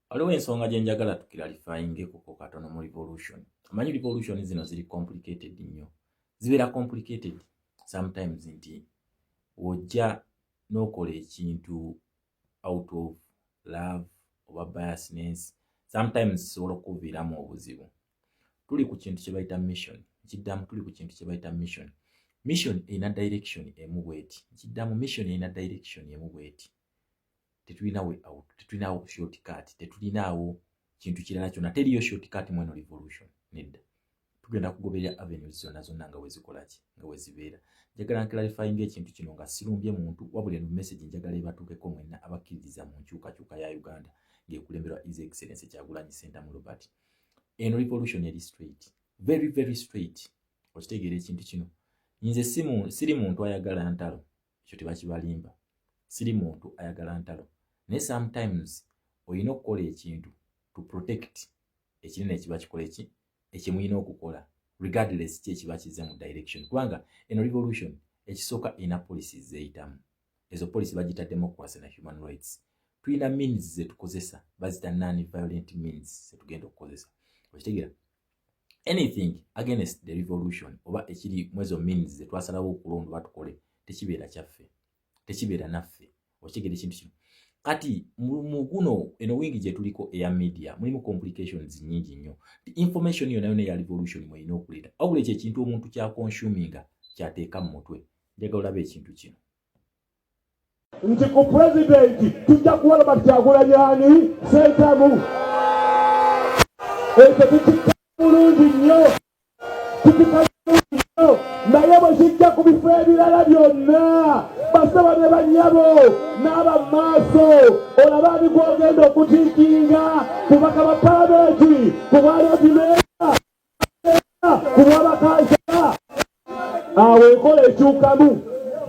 waliwo ensonga gye njagala tukiralifayingekoko katono mu revolution amanyi revolution zino ziri complicated nnyo zibeera complicated sometimes nti wojja n'okola ekintu out of love oba biasness sometimes zisobola okukuviiramu obuzibu tuli ku kintu kye bayita mission nkiddamu tuli ku kintu kye bayita mission mission erina direction emu bweti nkiddamu mission erina direction emu bweti tetulinawo out tetulinawo short cut tetulinaawo kintu kirala kyona teriyo short cut mweno revolution nedda tugenda kugoberera avenues zonna zonna nga wezikolaki nga wezibeera njagala nklarifyinga ekintu kino nga sirumbye muntu wabula eno message njagala ebatuukeko mwenna abakkiririza mu nkyukakyuka ya uganda ng'ekulemberwa is excellence kyagulanyi sentamu robert eno revolution eri straight very very straight okitegeera ekintu kino nze siri muntu ayagala ntalo ekyo tebakibalimba siri muntu ayagala ntalo naye sometimes olina okukola ekintu to protect ekinene ekiba kikola eki ekyemulina okukola regardless ki ekiba kize mu direction kubanga eno revolution ekisooka ina policy zeyitamu ezo policy bagita democracy na human rights tulina means zetukozesa bazita non violent means zetugenda okukozesa okitegera anything against the revolution oba ekiri mwezo means zetwasalawo okulonda oba tukole tekibeera kyaffe tekibeera naffe okigera ekintu kino kati muguno eno wingi gyetuliko eya media mulimu complications nyingi nnyo ti information yona yona eya revolution mweyina okuleeta wabula ekyo ekintu omuntu kyakonsuminga kyateeka mu mutwe njagala olaba ekintu kino nti ku pulezidenti tujja kuwa Robert Kyagulanyi ani sentamu ekyo tukikka bulungi nnyo tukikka bulungi nnyo naye bwe kijja ku bifo ebirala byonna basaba ne banyabo n'aba maaso olaba ani gwogenda okutiikinga kubaka ba palamenti ku bwalodimee kubwabakansala awo enkola ekyukamu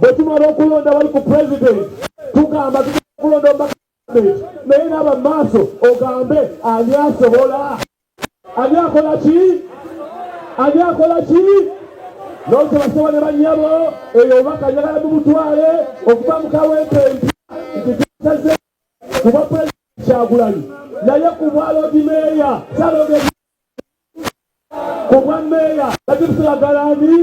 bwetumala okulonda bali ku president tugamba tukulonda omubaka naye naaba maaso ogambe ani asobola ani akola ki ani akola ki nokyebasaba ne banyabo eyo obubaka njagala mubutwale okuba mukawempe nti ntisaze kuba president kyagulanyi naye kubwalodimeeya salogezi kubwa meeya bakitusiragalani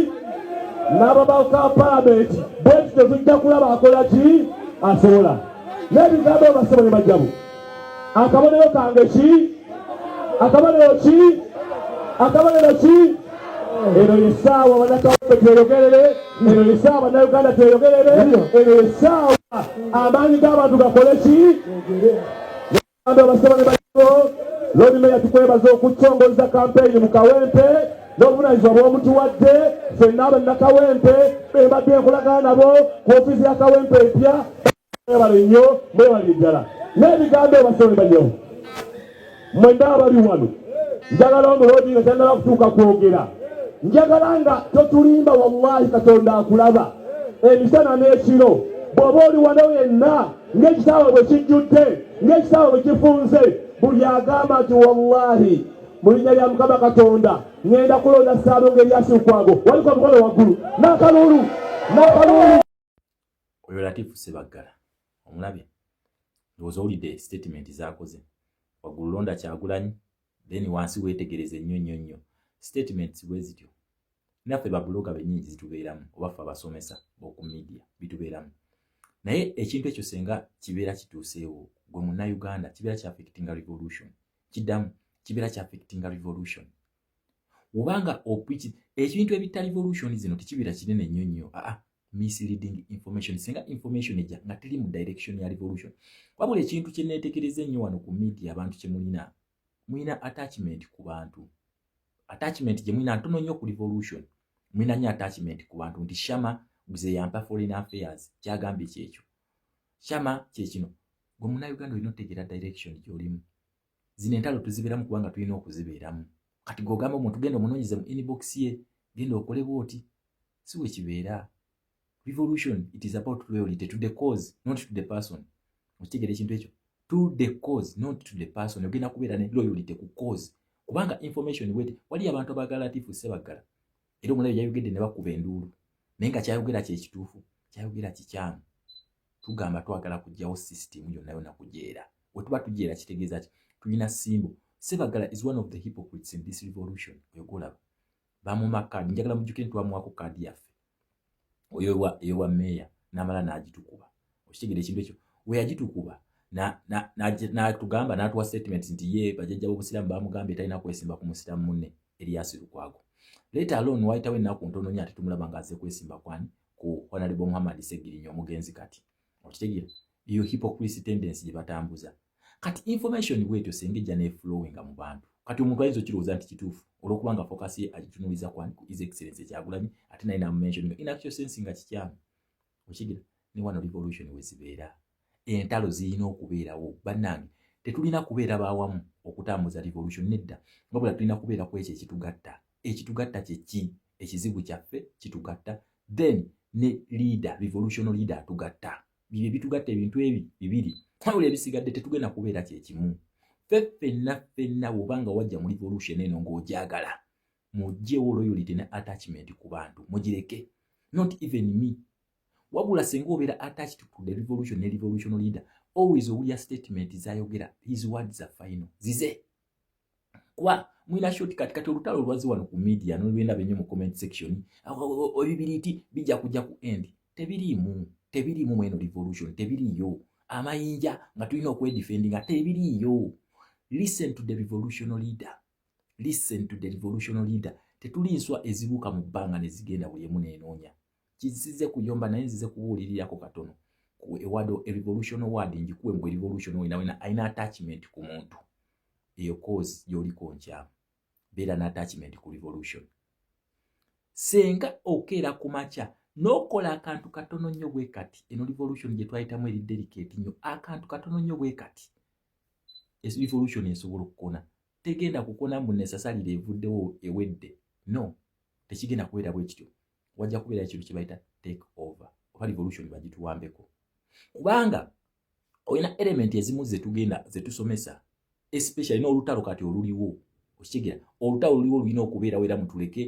n'ababaka palamenti bweti tetujja kulaba akola ki asobola n'ebigambo basebo ne bajjabu akabonero kange ki akabonero ki akabonero ki eno yesaawa banakawupe tweyogerere eno yesaawa banauganda tweyogerere eno yesaawa amaanyi g'abantu gakole ki Lord Mayor tukwebaza okutongoza kampeyini mu Kawempe n'obuvunaanyizibwa bw'omutuwadde ffenna abannakawempe bebadde enkolagana nabo ku ofiisi ya Kawempe empya mwebale nnyo mwebale ddala n'ebigambo ebasolemba nnyo mwenna abali wano njagala omuloodi nga tannaba kutuuka kwogera njagala nga totulimba wallahi katonda akulaba emisana n'ekiro bw'oba oli wano yenna ng'ekisaawe bwe kijjudde ng'ekisaawe bwe kifunze buli agamba nti wallahi mu linnya lya mukama katonda ŋenda kulonda saalu ng'eryasilukwago waliko omukono waggulu n'akaluulu n'akaluulu oyo latifu sebaggala omulabye ndowooza owulidde sitatimenti zaakoze waggulu londa kyagulanyi then wansi wetegereze nnyo nnyo nnyo statements bwe zityo naffe babuloga benyini zitubeeramu oba ffe abasomesa boku media bitubeeramu naye ekintu ekyo senga kibeera kituuseewo gwe munnayuganda kibeera kya affectinga revolution kiddamu kibeera kya affectinga revolution obanga opiki ekintu ebitta revolution zino tekibeera kinene nnyo nnyo aa misleading information singa information eja nga teri mu direction ya revolution wabula ekintu kye neetegereza ennyo wano ku media abantu kye mulina mulina attachment ku bantu attachment gye mulina ntono nnyo ku revolution mulina nnyo attachment ku bantu nti shama guze yampa foreign affairs kyagambye kyekyo shama kyekino gwe muna uganda olina otegeera direction gyolimu zino entalo tuzibeeramu kubanga tulina okuzibeeramu kati gogamba omuntu genda omunonyeze mu inbox ye genda okole bwoti si bwe kibeera revolution it is about loyalty to the cause not to the person okitegera ekintu ekyo to the cause not to the person ogenda kubeera ne loyalty ku cause kubanga information wete waliyo abantu abagala latifu sebaggala era omulabi yayogedde ne bakuba enduulu naye nga kyayogera kyekituufu kyayogera kikyamu tugamba twagala kugyawo system yonna yona kujeera wetuba tujeera kitegeeza ki tulina simbo sebagala is one of the hypocrites in this revolution oyogaolaba bamuma kaadi njagala mujjukire nti wamuwako kaadi yaffe oyo eyowa meeya namala nagitukuba okitegera ekintu ekyo weyagitukuba natugamba natuwa statement nti ye bajajja bobusiramu bamugambye talina kwesimba ku musiramu mune eriyasi lukwago leta alon wayitawo ennaku ntononya ate tumulaba nga aze kwesimba kwani ku honalebo muhammad segirinya omugenzi kati okitegera eyo hypocrisy tendency gye batambuza kati information bwetyo senga ejja neflowinga mu bantu kati omuntu ayinza okirowooza nti kituufu olwokuba nga focus ye agitunuliza kwani ku is excellence ekyagulanyi ate naye namumensioninga in actual sense nga kikyamu okitegera ne wano revolution wezibeera entalo zirina okubeerawo bannange tetulina kubeera bawamu okutambuza revolution nedda wabula tulina kubeera ku ekyo ekitugatta ekitugatta kyeki ekizibu kyaffe kitugatta then ne leader revolutional leader atugatta bibyo ebitugatta ebintu ebi bibiri wabula ebisigadde tetugenda kubeera kyekimu ffe ffenna ffenna woba nga wajja mu revolution eno ng'ogyagala mugyewo loyalty ne attachment ku bantu mugireke not even me wabula singa obeera attached to the revolution ne revolutional leader always owulira statement zayogera his words are final zize kwa mwina short kati kati olutalo lwazi wano ku media no lwenda benyo mu comment section ebibiriti bija kuja ku end tebirimu tebirimu mweno revolution tebiriyo amayinja nga tulina okwedefendi nga tebiriyo listen to the revolutional leader listen to the revolutional leader tetuli nswa ezibuka mu bbanga nezigenda buli emu nenoonya kizisize kuyomba naye nzize kubuulirirako katono ewado erevolution word ngikuwe mbu erevolution wena wena alina attachment ku muntu eyo cause yoliko nkyamu beera na attachment ku revolution senga okeera ku makya n'okola akantu katono nnyo bwe kati eno revolution gye twayitamu eri delicate nnyo akantu katono nnyo bwe kati revolution esobola okukona tegenda kukona mbu nesasalire evuddewo ewedde no tekigenda kubeera bwe kityo wajja kubeera ekintu kye bayita take over oba revolution bagituwambeko kubanga olina element ezimu zetugenda zetusomesa especially n'olutalo kati oluliwo okitegera olutalo oluliwo lulina okubeerawo era mutuleke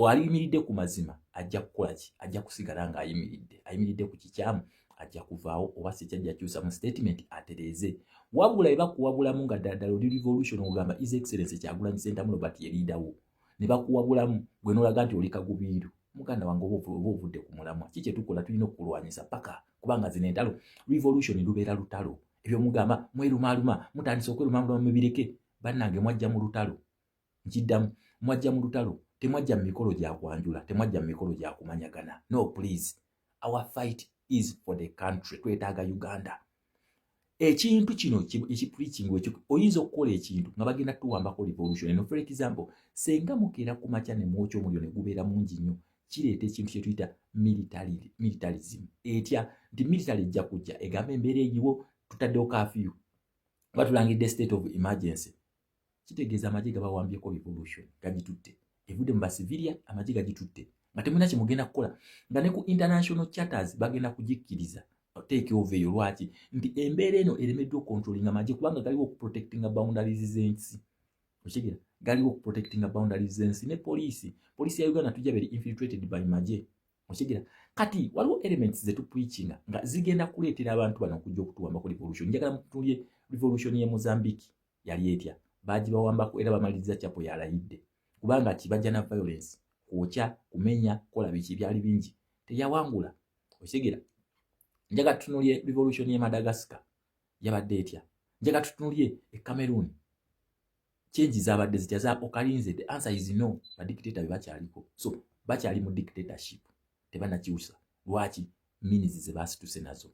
aliyimiridde ku mazima ajja kukola ki ajja kusigala ng'ayimiridde ayimiridde ku kikyamu ajja kuvaawo oba si kyajja kyusa mu statement atereeze wabula ebakuwabulamu nga ddala ddala oli revolution ogamba is excellence kyagulanyi sentamu robert yeriidawo ne bakuwabulamu gwe n'olaga nti oli kagubiiru muganda wange oba ovudde ku mulamwa ki kyetukola tulina okukulwanyisa paka kubanga zino entalo revolution lubeera lutalo ebyo mugamba mwerumaaluma mutandise okwerumaaluma mubireke bannange mwajja mu lutalo nkiddamu mwajja mu lutalo temwajja mu mikolo gyakwanjula temwajja mu mikolo gyakumanyagana no please our fight is for the country twetaaga uganda ekintu kino ekipreaching ekyo oyinza okukola ekintu nga bagenda tuwambako revolution eno for example senga mukeera ku makya ne mwokya omuliro ne gubeera mungi nnyo kireeta ekintu kye tuyita militarism etya nti military ejja kujja egamba embeera egiwo tutaddewo kafiyu oba tulangidde state of emergency kitegeeza amagye gabawambyeko revolution gagitutte evudde mu basivilia amagye gagitutte nga temulina kyemugenda kukola nga ne ku international charters bagenda kugikkiriza take over eyo lwaki nti embeera eno eremeddwa okontrolinga amagye kubanga galiwo okuprotectinga boundaries z'ensi okitegeera galiwo okuprotectinga boundaries z'ensi ne poliisi poliisi ya uganda tujja beri infiltrated by magye okitegeera kati waliwo elements zetupreachinga nga zigenda kuleetera abantu bano okujja okutuwambako revolution njagala mutunulye revolution ye mozambique yali etya baagibawambako era bamaliriza kyapo yalayidde kubanga kibajja na violence kwokya kumenya kola biki byali bingi teyawangula okitegera njaga tutunulye revolution ye madagascar yabadde etya njaga tutunulye e cameroon change zabadde zitya za okalinze the answer is no badictator bebakyaliko so bakyali mu dictatorship tebanakyusa lwaki minizi zebasituse nazo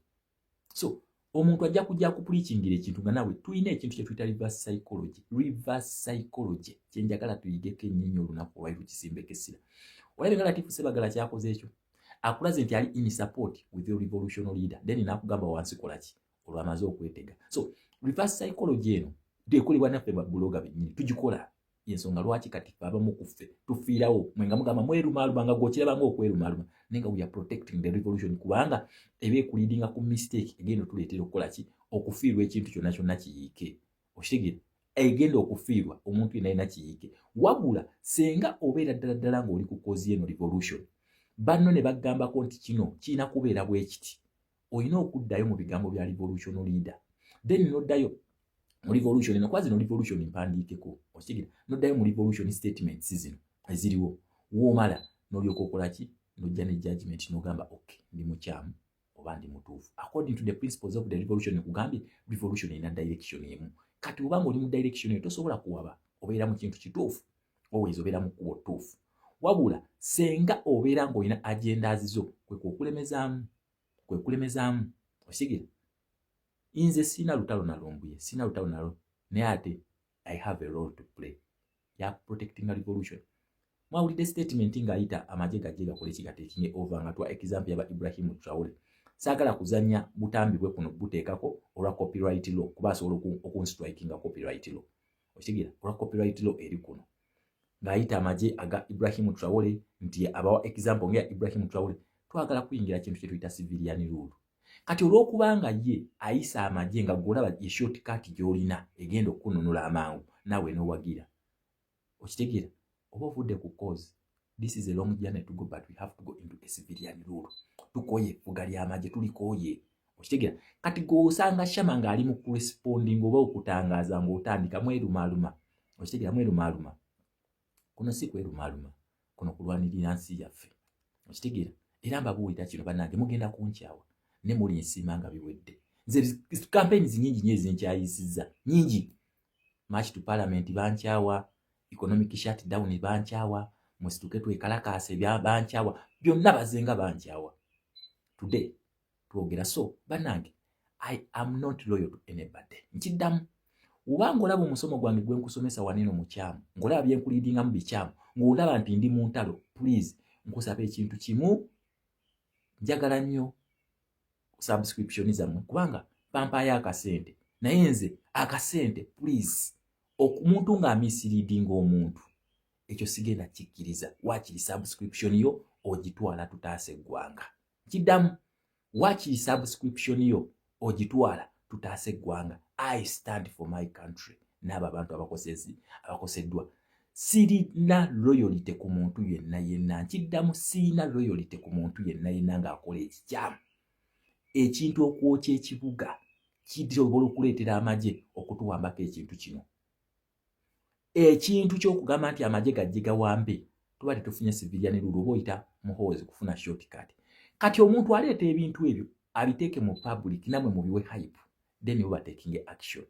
so omuntu ajja kujja kupulikingira ekintu nga nawe tulina ekintu kyetuyita reverse psychology reverse psychology kyenjagala tuyigeko enyenyi olunaku olwali lukisimbeko essira olabye nga latifu sebagala kyakoze ekyo akulaze nti ali in support with your revolutional leader then nakugamba wansi kolaki olwamaze okwetega so reverse psychology eno dekolebwa naffe babuloga benyini tugikola yensonga lwaki kati fe abamu ku ffe tufiirawo mwe nga mugamba mwerumaaluma nga gwokirabanga okwerumaaluma naye nga weare protecting the revolution kubanga eba ekulidinga ku mistake egenda otuleetera okukola ki okufiirwa ekintu kyonna kyonna kiyiike okitegere egenda okufiirwa omuntu yena yena kiyiike wabula senga obeera ddala ddala ngaoli ku kozi eno revolution banno ne bagambako nti kino kirina kubeera bwekiti olina okuddayo mu bigambo bya revolution leader then noddayo mu revolution eno kuba zino revolution mpandiikeko okitegera noddayo mu revolution statements zino eziriwo woomala nolyoka okola ki nojja ne judgment nogamba ok ndi mukyamu oba ndi mutuufu according to the principles of the revolution ekugambye revolution erina direction emu kati obanga oli mu direction eyo tosobola kuwaba obeera mu kintu kituufu always obeera mu kkubo ttuufu wabula senga obeera ng'olina agenda azizo kwe kwekulemezaamu kwe kulemezaamu osigira nze sirina lutalo nalumbuye sirina lutalo nalo naye ate i have a role to play ya protecting a revolution mwawulidde statement ng'ayita amagye gajje gakola ekigatekinge ova nga twa example yaba ibrahimu traule saagala kuzanya butambi bwe kuno buteekako olwa copyright law kuba asobola okunstrike nga copyright law okitegeera olwa copyright law eri kuno ng'ayita amagye aga ibrahim trawole nti abawa example ngaeya ibrahim trawole twagala kuyingira kintu kyetuyita civilian rule kati olw'okubanga ye ayisa amagye nga gwolaba yeshoti kati gy'olina egenda okukununula amangu naawe n'owagira okitegeera oba ovudde ku cause this is a long journey to go but we have to go into a civilian rule tukoye effuga ly'amagye tulikoye okitegera kati gweosanga shama ng'ali mu kuresponding oba okutangaaza ng'otandika mwerumaaluma okitegera mwerumaaluma kuno si kwerumaaluma kuno kulwanirira nsi yaffe okitegera era mbabuulira kino banange mugenda kunkyawa ne muli nsiima nga biwedde nze kampeyini zinyingi nyo ezinkyayisiza nyingi march to parliament bankyawa economic shutdown bankyawa musituke twekalakaase bankyawa byonna bazenga bankyawa today twogera so banange i am not loyal to anybody nkiddamu oba ng'olaba omusomo gwange gwe nkusomesa waneno mukyamu ng'olaba bye nkuliidingamu bikyamu ng'olaba nti ndi mu ntalo puliizi nkusaba ekintu kimu njagala nnyo subscription zammwe kubanga bampaayo akasente naye nze akasente please omuntu ng'amiisiriidinga omuntu ekyo sigenda kikkiriza waakiri subscription yo ogitwala tutaasa eggwanga kiddamu waakiri subscription yo ogitwala tutaasa eggwanga i stand for my country n'abo abantu abakoseddwa sirina loyalite ku muntu yenna yenna nkiddamu sirina loyalite ku muntu yenna yenna ng'akola ekikyamu ekintu okwokya ekibuga kisobola okuleetera amagye okutuwambako ekintu kino ekintu ky'okugamba nti amagye gajje gawambe tuba tetufunye sivilyani lulu oba oyita muhoozi kufuna shortcut kati omuntu aleeta ebintu ebyo abiteeke mu public namwe mubiwe hype then oba taking action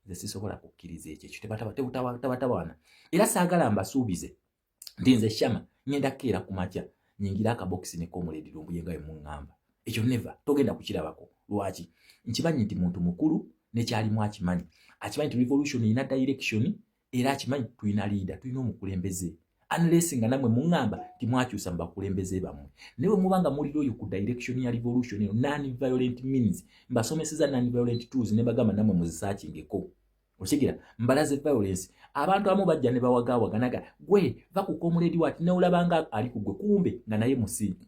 nze sisobola kukkiriza ekyo ekyo tebatabatawana era saagala mbasuubize nti nze shama ngenda kukeera ku makya nyingira akabokisi nekomuledi lumbuye nga wemuŋŋamba ekyo neva togenda kukirabako lwaki nkimanyi nti muntu mukulu nekyalimu akimanyi akimanyi nti revolution erina direction era akimanyi tulina liida tulina omukulembeze unless nga namwe muŋŋamba nti mwakyusa mu bakulembeze bammwe naye bwe muba nga mulira oyo ku direction ya revolution eyo non violent means mbasomeseza non violent tools ne bagamba namwe muzisakingeko okitegera mbalaze violence abantu amu bajja ne bawagaawaganaga gwe va ku komuledi wati neolabanga ali ku gwe kumbe nga naye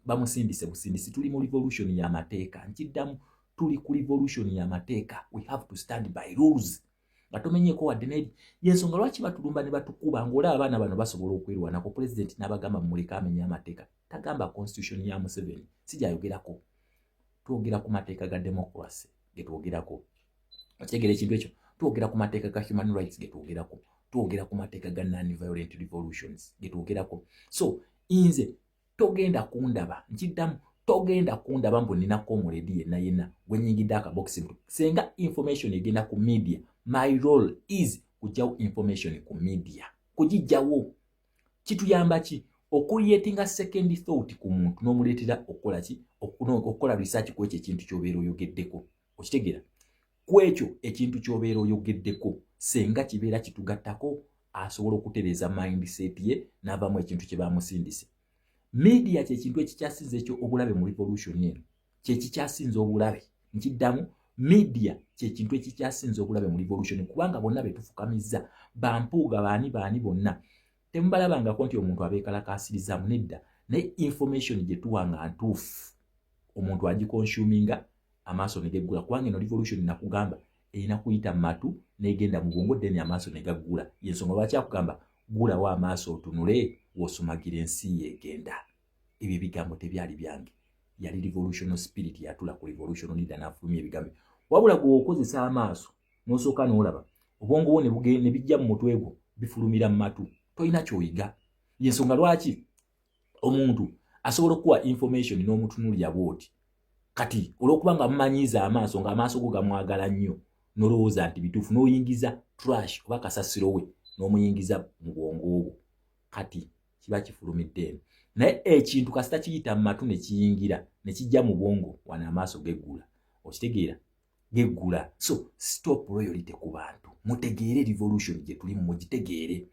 bamusindise busindisi tuli mu revolution y'amateeka nkiddamu tuli ku revolution y'amateeka we have to stand by rules nga tomenyeeko wadde neri yensonga lwaki batulumba ne batukuba ng'olaba abaana bano basobola okwerwanako pulezidenti n'abagamba mumuleka amenya amateeka tagamba constitution ya museveni si gyayogerako twogera ku mateeka ga democracy ge twogerako okitegeera ekintu ekyo twogera ku mateeka ga human rights ge twogerako twogera ku mateeka ga non violent revolutions ge twogerako so nze togenda kundaba nkiddamu togenda kundaba mbu nina komuledi yenna yenna gwenyingidde akabokisi mtu senga information egenda ku media my role is kujjawo information ku media kugijjawo kituyamba ki okuyetinga second thought ku muntu n'omuleetera okukola ki okukola research ku ekyo ekintu kyobeera oyogeddeko okitegeera ku ekyo ekintu kyobeera oyogeddeko senga kibeera kitugattako asobola okutereeza mindset ye n'avaamu ekintu kye bamusindise media kyekintu ekikyasinza ekyo obulabe mu revolution eno kyekikyasinza obulabe nkiddamu media kyekintu ekikyasinza obulabe mu revolution kubanga bonna betufukamizza bampuuga baani baani bonna temubalabangako nti omuntu abeekalakaasirizaamu nedda naye information gye tuwa nga ntuufu omuntu agikonsuminga amaaso ne geggula kubanga eno revolution nakugamba erina kuyita mu matu n'egenda mu bwongo deni amaaso ne gaggula yensonga lwaki akugamba gulawo amaaso otunule wosumagira ensi yegenda ebyo ebigambo tebyali byange yali revolutional spirit yatula ku revolutional leader n'afulumya ebigambo wabula gweokozesa amaaso nosooka n'olaba obwongo bwo ne bijja mu mutwe gwo bifulumira mu matu tolina kyoyiga yensonga lwaki omuntu asobola okukuwa information n'omutunulira bwoti kati olwokuba nga mumanyiiza amaaso ng'amaaso go gamwagala nnyo nolowooza nti bituufu n'oyingiza trash oba kasasiro we n'omuyingiza mu bwongo obwo kati kiba kifulumidde eno naye ekintu kasita kiyita mu matu ne kiyingira ne kijja mu bwongo wano amaaso geggula okitegeera geggula so stop royalty ku bantu mutegeere revolution gye tulimu mugitegeere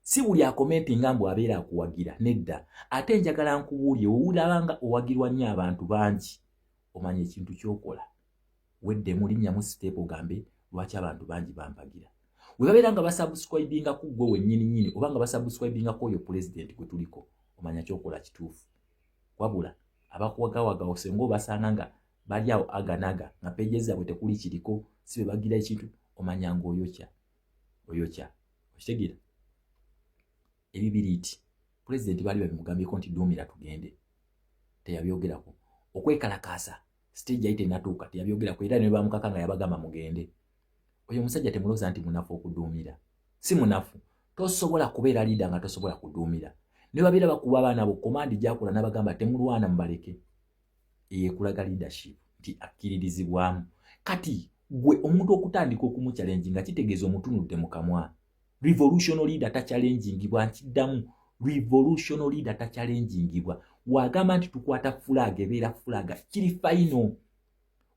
si buli akomenti nga mbu abeera akuwagira nedda ate njagala nkubuulye wowulaba nga owagirwa nnyo abantu bangi omanya ekintu kyokola wedde mulinnya mu siteepu ogambe lwaki abantu bangi bampagira we babeera nga basubscribinga ku ggwe wennyini nnyini oba nga basubscribinga ku oyo pulezidenti gwe tuliko omanya kyokola kituufu wabula abakuwagawaga osenga obasanga nga bali awo aganaga nga peje zaabwe tekuli kiriko si be bagira ekintu omanya nga oyokya oyokya okitegeera ebibiriiti pulezidenti baali babimugambyeko nti duumira tugende teyabyogerako okwekalakaasa siteegi yali tenatuuka teyabyogerako era ne bamukaka nga yabagamba mugende oyo omusajja temulooza nti munafu okuduumira si munafu tosobola kubeera liida nga tosobola kuduumira ne babeera bakuba abaana bo komandi gyakola n'abagamba temulwana mubaleke eyekulaga leadership nti akkiririzibwamu kati gwe omuntu okutandika okumuchallenge nga kitegeeza omutunudde mu kamwa revolution leader takyalengingibwa nkiddamu revolution leader takyalengingibwa wagamba nti tukwata fulaaga ebeera fulaaga kiri fayino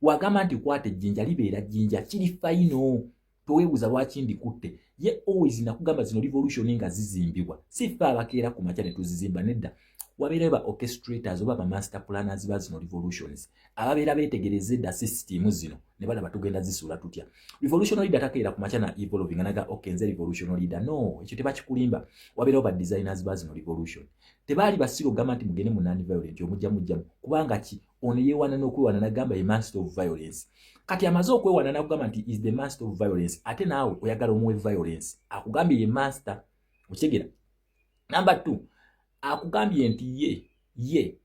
wagamba nti kwata ejjinja libeera jjinja kiri fayino toweebuuza lwaki ndikutte ye always nakugamba zino revolution nga zizimbibwa si ffe abakeera ku makya ne tuzizimba nedda wabeerayo ba orchestrators oba ba master planners ba zino revolutions ababeera beetegereza edda sisitiimu zino ne balaba tugenda zisuula tutya revolution leader takeera ku makya na evolving anaga okay nze revolution leader no ekyo tebakikulimba wabeerayo ba designers ba zino revolution tebaali basiru ogamba nti mugende mu non violent omujja mujjamu kubanga ki ono yewana nokwewana nagamba ye master of violence kati amaze okwewana nakugamba nti is the master of violence ate naawe oyagala omuwe violence akugambye ye master okitegera number two akugambye nti ye ye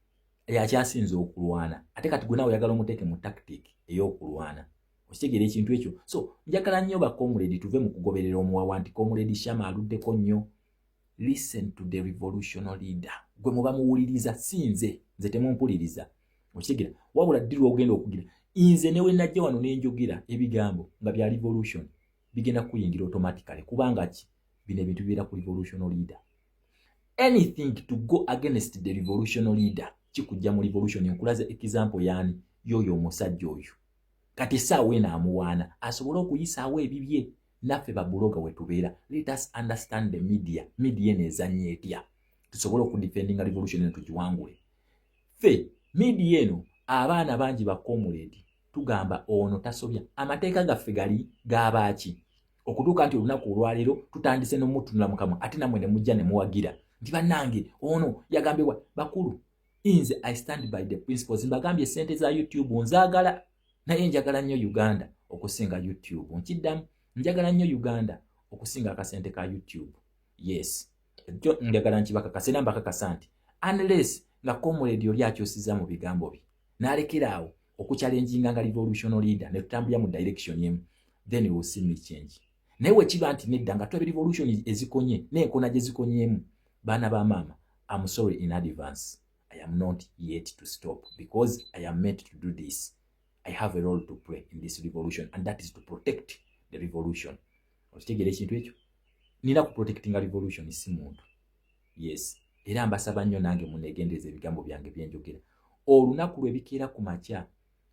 yakyasinze okulwana ate kati gwenawe oyagala omuteeke mu tactic eyokulwana okitegera ekintu ekyo so njagala nnyo bakomuledi tuve mu kugoberera omuwawa nti komuledi shama aluddeko nnyo listen to the revolutional leader gwe muba muwuliriza si nze nze temumpuliriza okitegera wabula ddi lwogenda okugira nze newe najja wano nenjogera ebigambo nga bya revolution bigenda kuyingira automatically kubanga ki bino ebintu bibeera ku revolutional leader anything to go against the revolutional leader kikujja mu revolution enkulaza example yaani yoyo omusajja oyo kati esaawa eno amuwaana asobole okuyisaawo ebibye naffe babuloga wetubeera let us understand the media media eno ezanya etya tusobole okudefendinga revolution eno tugiwangule fe media eno abaana bangi bakomuledi tugamba ono tasobya amateeka gaffe gali gabaaki okutuuka nti olunaku olwaleero tutandise nomutunula mukamwa ate namwe nemujja nemuwagira nti banange ono yagambibwa bakulu inze i stand by the principles mbagambye sente za youtube nzagala naye njagala nnyo uganda okusinga youtube nkiddamu njagala nnyo uganda okusinga akasente ka youtube yes ekyo njagala nkibakakasa era mbakakasa nti unless nga comrade oli akyusiza mu bigambo bye n'alekera awo okucalenjinga nga revolutional leader ne tutambulira mu direction emu then we will see me change naye wekiba nti nedda nga tulabe revolution ezikonye n'enkona gye zikonyeemu baana ba maama am sorry in advance I am not yet to stop because I am meant to do this. I have a role to play in this revolution and that is to protect the revolution. Okitegera ekintu ekyo? Nina ku protecting a revolution si muntu. Yes. Era mbasaba nnyo nange munegendereza ebigambo byange bye njogera. Olunaku lwe bikeera ku makya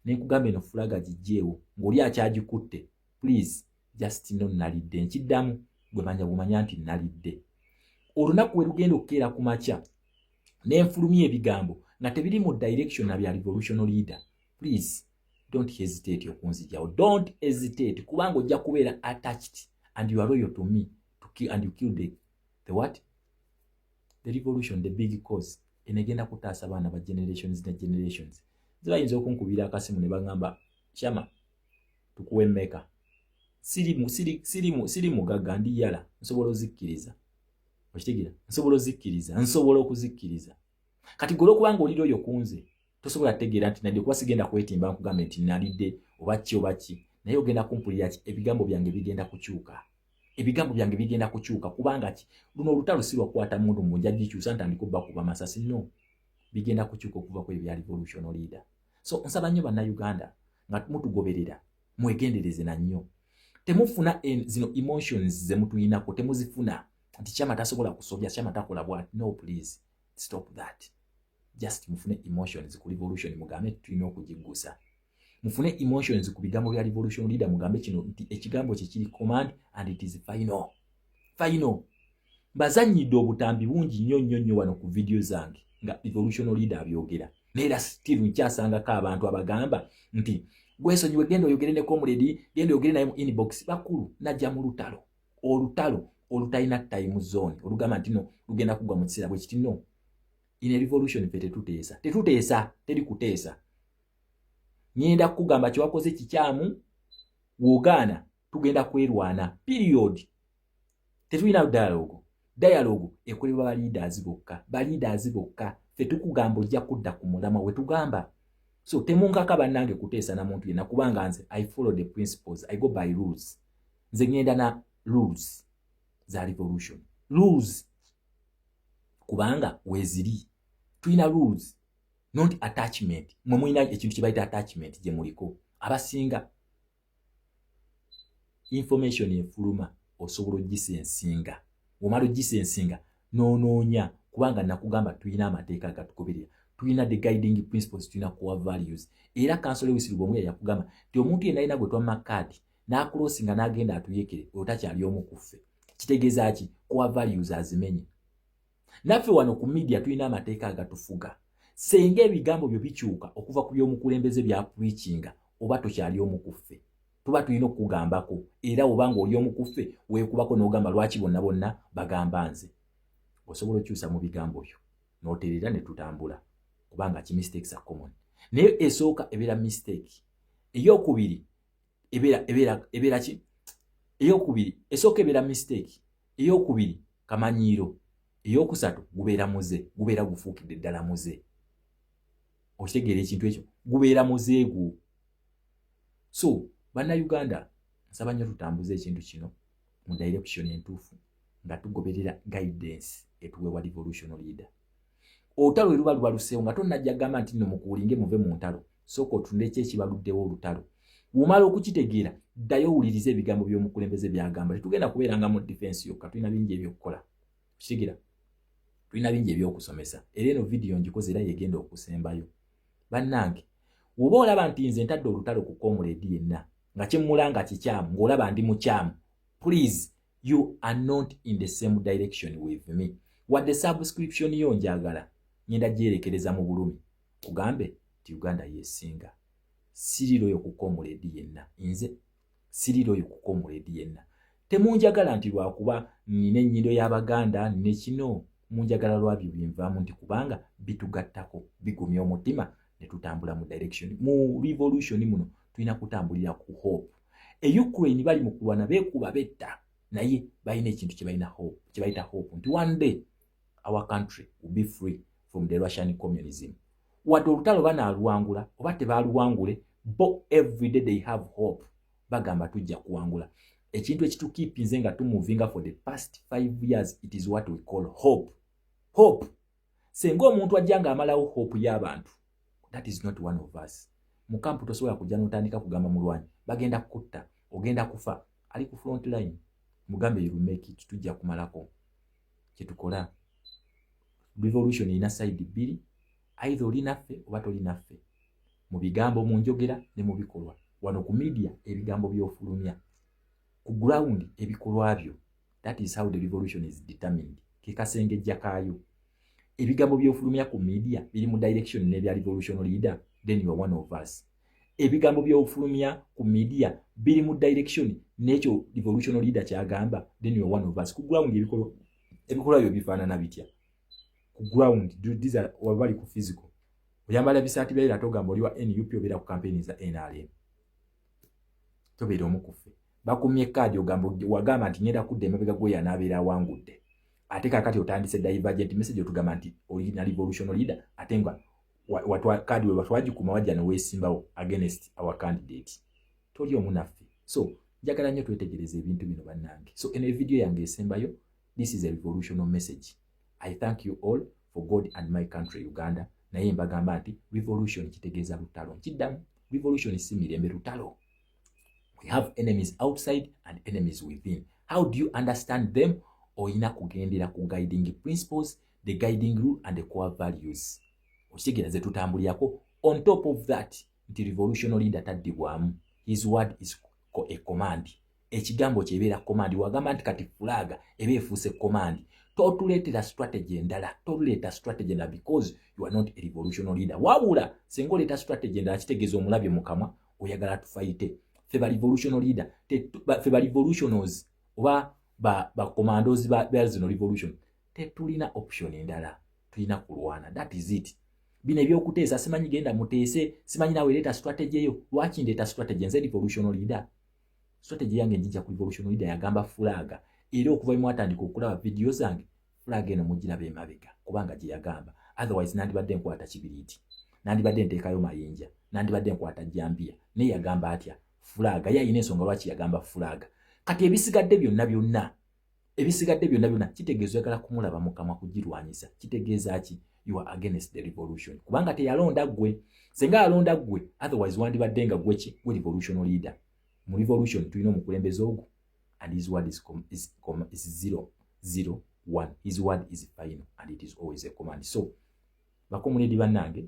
ne nkugamba eno fulaga gijjeewo ng'oli akyagikutte. Please just know nalidde nkiddamu gwe manya bumanya nti nalidde. Olunaku we lugenda okukeera ku makya nenfulumya ebigambo nga tebiri mu direction na bya revolutionary leader please don't hesitate okunzijawo don't hesitate kubanga ojja kubeera attached and you are royal to me to kill, and you kill the, the what the revolution the big cause enegenda kutaasa abaana ba generations ne generations zibayinza okunkubira akasimu ne bagamba shama tukuwe meka siri mugagga ndi yala nsobola ozikkiriza okitegera nsobola ozikkiriza nsobola okuzikkiriza kati gwe olwokubanga olira oyo kunze tosobola kutegeera nti nadde kuba sigenda kwetimba nkugambe nti nalidde oba ki oba ki naye ogenda kumpulira ki ebigambo byange bigenda kukyuka ebigambo byange bigenda kukyuka kubanga ki luno olutalo si lwakukwata mundu mu nja gikyusa ntandika obba kuba masasi no bigenda kukyuka okuva ku ebya revolution leader so nsaba nnyo bannayuganda nga mutugoberera mwegendereze na nnyo temufuna zino emotions zemutuyinako temuzifuna nti kyama tasobola kusobya kyama takola bwati no please stop that just mufune emotions ku revolution mugambe tulina okugiggusa mufune emotions ku bigambo bya revolution leader mugambe kino nti ekigambo kye kiri command and it is final final mbazanyidde obutambi bungi nnyo nnyo nnyo wano ku vidiyo zange nga evolutional leader abyogera neera still nkyasangako abantu abagamba nti gwesonyiwe genda oyogere ne comrade genda oyogere naye mu inbox bakulu najja mu lutalo olutalo olutalina time zone olugamba nti no lugenda kugwa mu kiseera bwekiti no in a revolution fe tetuteesa tetuteesa teri kuteesa nyenda kukugamba kyewakoze kikyamu wogaana tugenda kwerwana period tetulina dialogue dialogue ekolebwa ba leaders bokka ba leaders bokka ffe tukugamba ojja kudda ku mulama we tugamba so temunkaka bannange kuteesa na muntu yenna kubanga nze i follow the principles i go by rules nze ŋŋenda na rules za revolution rules kubanga weeziri tulina rules not attachment mwe mulina ekintu kye bayita attachment gye muliko abasinga information efuluma osobola ogisa ensinga omala ogisa ensinga nonoonya kubanga nakugamba tulina amateeka agatugoberera tulina the guiding principles tulina core values era kansole wisiruba omu yayakugamba ti omuntu yenalina gwe twamma kaadi n'akuloosi nga n'agenda atuyekere oyo takyali omu ku ffe kitegeeza ki core values azimenye naffe wano ku midia tulina amateeka agatufuga senga ebigambo byo bikyuka okuva ku byomukulembeze bya preachinga oba tokyali omukuffe tuba tulina okukugambako era oba nga oli omukuffe weekubako n'ogamba lwaki bonna bonna bagamba nze osobola okyusa mu bigambo byo n'oterera ne tutambula kubanga ki mistakes are common naye esooka ebeera mistake ey'okubiri ebeera ebeera ebeera ki eyokubiri esooka ebeera mistake eyokubiri kamanyiiro eyokusatu gubeera muze gubeera gufuukidde ddala muze okitegeera ekintu ekyo gubeera muze gwo so bannayuganda nsaba nnyo tutambuza ekintu kino mu direction entuufu nga tugoberera guidance etuwewa revolutional leader olutalo we luba lubaluseewo nga tonajja gamba nti no mukuulinge muve mu ntalo sooka otunde ki ekibaluddewo olutalo womala okukitegeera ddayo owuliriza ebigambo by'omukulembeze byagamba tetugenda kubeera nga mu defense yokka tulina bingi ebyokukola kitegera tulina bingi ebyokusomesa era eno vidiyo ngikoze era yegenda okusembayo bannange woba olaba nti nze ntadde olutalo ku komuleedi yenna nga kyemmulanga kikyamu ng'olaba ndi mukyamu please you are not in the same direction with me wadde subscription yo njagala ngenda gyerekereza mu bulumi kugambe nti uganda yesinga siriroyo kukomuledi yenna nze siriroyo kukomuledi yenna temunjagala nti lwakuba nina ennyindo y'abaganda nina kino munjagala lwabyo binvaamu nti kubanga bitugattako bigumya omutima ne tutambula mu direction mu revolution muno tulina kutambulira ku hope e ukraine bali mu kulwana beekuba betta naye balina ekintu kyebalina hope kyebayita hope nti one day our country will be free from the russian communism wadde olutalo banaaluwangula oba tebaaluwangule bo everyday they have hope bagamba tujja kuwangula ekintu ekitukipinze nga tumuvinga for the past five years it is what we call hope hope senga omuntu ajja nga amalawo hope y'abantu that is not one of us mukampu tosobola kujja notandika kugamba mulwanyi bagenda kukutta ogenda kufa ali ku front line mugambe yirumeki tujja kumalako kyetukola revolution erina side bbiri aidha oli naffe oba toli naffe mu bigambo mu njogera ne mu bikolwa wano ku media ebigambo byofulumya ku ground ebikolwa byo that is how the revolution is determined kekasengejja kaayo ebigambo byofulumya ku media biri mu direction nebya revolution leader then you are one of us ebigambo byofulumya ku media biri mu direction nekyo revolution leader kyagamba then you are one of us ku ground ebikolwa ebikolwa byo bifaanana bitya ku ground these are wabali ku physical oyambala bisaati byayo ate ogamba oli wa nup obeera ku kampeyini za nrm tobeera omu kuffe bakumye kaadi ogamba wagamba nti ngenda kudda emabega gweyo anaabeera awangudde ate kakati otandise divergent message otugamba nti olina revolution leader ate nga kaadi we watwagikuma wajja neweesimbawo against our candidate toli omu naffe so njagala nnyo twetegereza ebintu bino bannange so eno evidiyo yange esembayo this is a revolutional message i thank you all for god and my country uganda naye mbagamba nti revolution kitegeeza lutalo nkiddamu revolution si mirembe lutalo we have enemies outside and enemies within how do you understand them olina kugendera ku guiding principles the guiding rule and the core values okitegeera ze tutambulirako on top of that nti revolutional leader taddibwamu his word is a command ekigambo kyo ebeera komandi wagamba nti kati fulaaga eba efuuse komandi totuleetera strategy endala toluleeta strategy endala because you are not a revolutional leader wabula singa oleeta strategy endala kitegeeza omulabye mu kamwa oyagala tufayite fe ba revolutional leader fe ba revolutionals oba bacommandos ba zino revolution tetulina option endala tulina kulwana that is it bino ebyokuteesa simanyi genda muteese simanyi nawe leeta strategy eyo lwaki ndeeta strategy nze revolutional leader strategy yange njija ku revolution leader yagamba flag era okuva mu atandika okulaba video zange flag eno mujiraba emabega kubanga gye yagamba otherwise nandibadde nkwata kibiriti nandibadde nteekayo mayinja nandibadde nkwata jambiya naye yagamba atya flag ye alina ensonga lwaki yagamba flag kati ebisigadde byonna byonna ebisigadde byonna byonna kitegeeza oyagala kumulaba mukamwa kugirwanyisa kitegeeza ki you are against the revolution kubanga teyalonda gwe senga alonda gwe otherwise wandibadde nga gweki gwe revolutional leader mu revolution tulina omukulembeze ogwo and his word is, com, is, com, is zero, zero, one. his word is final and it is always a command so bakomuledi bannange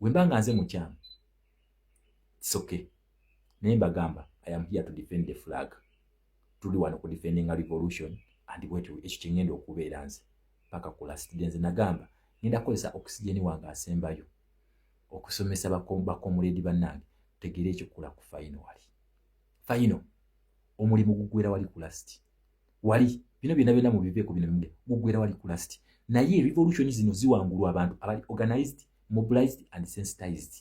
wemba nga nze mukyamu it's okay naye mbagamba i am here to defend the flag tuli wano ku defending a revolution and bwet ekyo kyengenda okubeera nze paka ku last day nze nagamba ngenda kukozesa oxygen wange asembayo okusomesa bakomuledi bannange tegere ekikula ku fayino wali fayino omulimu gugwera wali ku last wali bino byona byona mubiveeko bino bimge gugwera wali kulasiti naye revolution zino ziwangulwa abantu abali organized mobilized and sensitized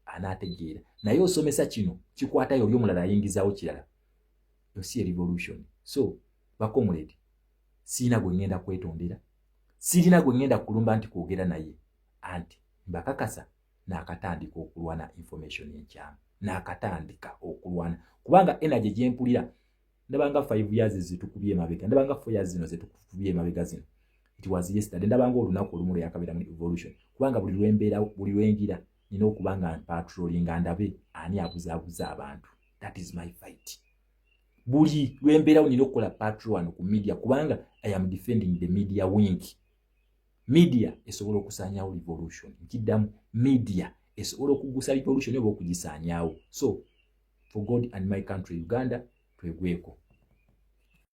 anaategeera naye osomesa kino kikwatayo oli omulala ayingizaawo kirala yosi erevolution so bakomuledi siina gwe ŋŋenda kwetondera sirina gwe ŋŋenda kulumba nti kwogera naye anti mbakakasa naakatandika okulwana information enkyamu naakatandika okulwana kubanga energy gyempulira ndabanga five years zitukubye emabega ndabanga four years zino zitukubye emabega zino it was yesterday ndabanga olunaku olumu lwe yakabeera mu evolution kubanga buli lwembeera buli lwengira nina okuba nga mpatroli nga ndabe ani abuzaabuza abantu that is my fight buli lwembeerawo nina okukola patrol wano ku media kubanga i am defending the media wink media esobola okusaanyawo revolution nkiddamu media esobola okugusa revolution oba okugisaanyawo so for God and my country Uganda twegweko.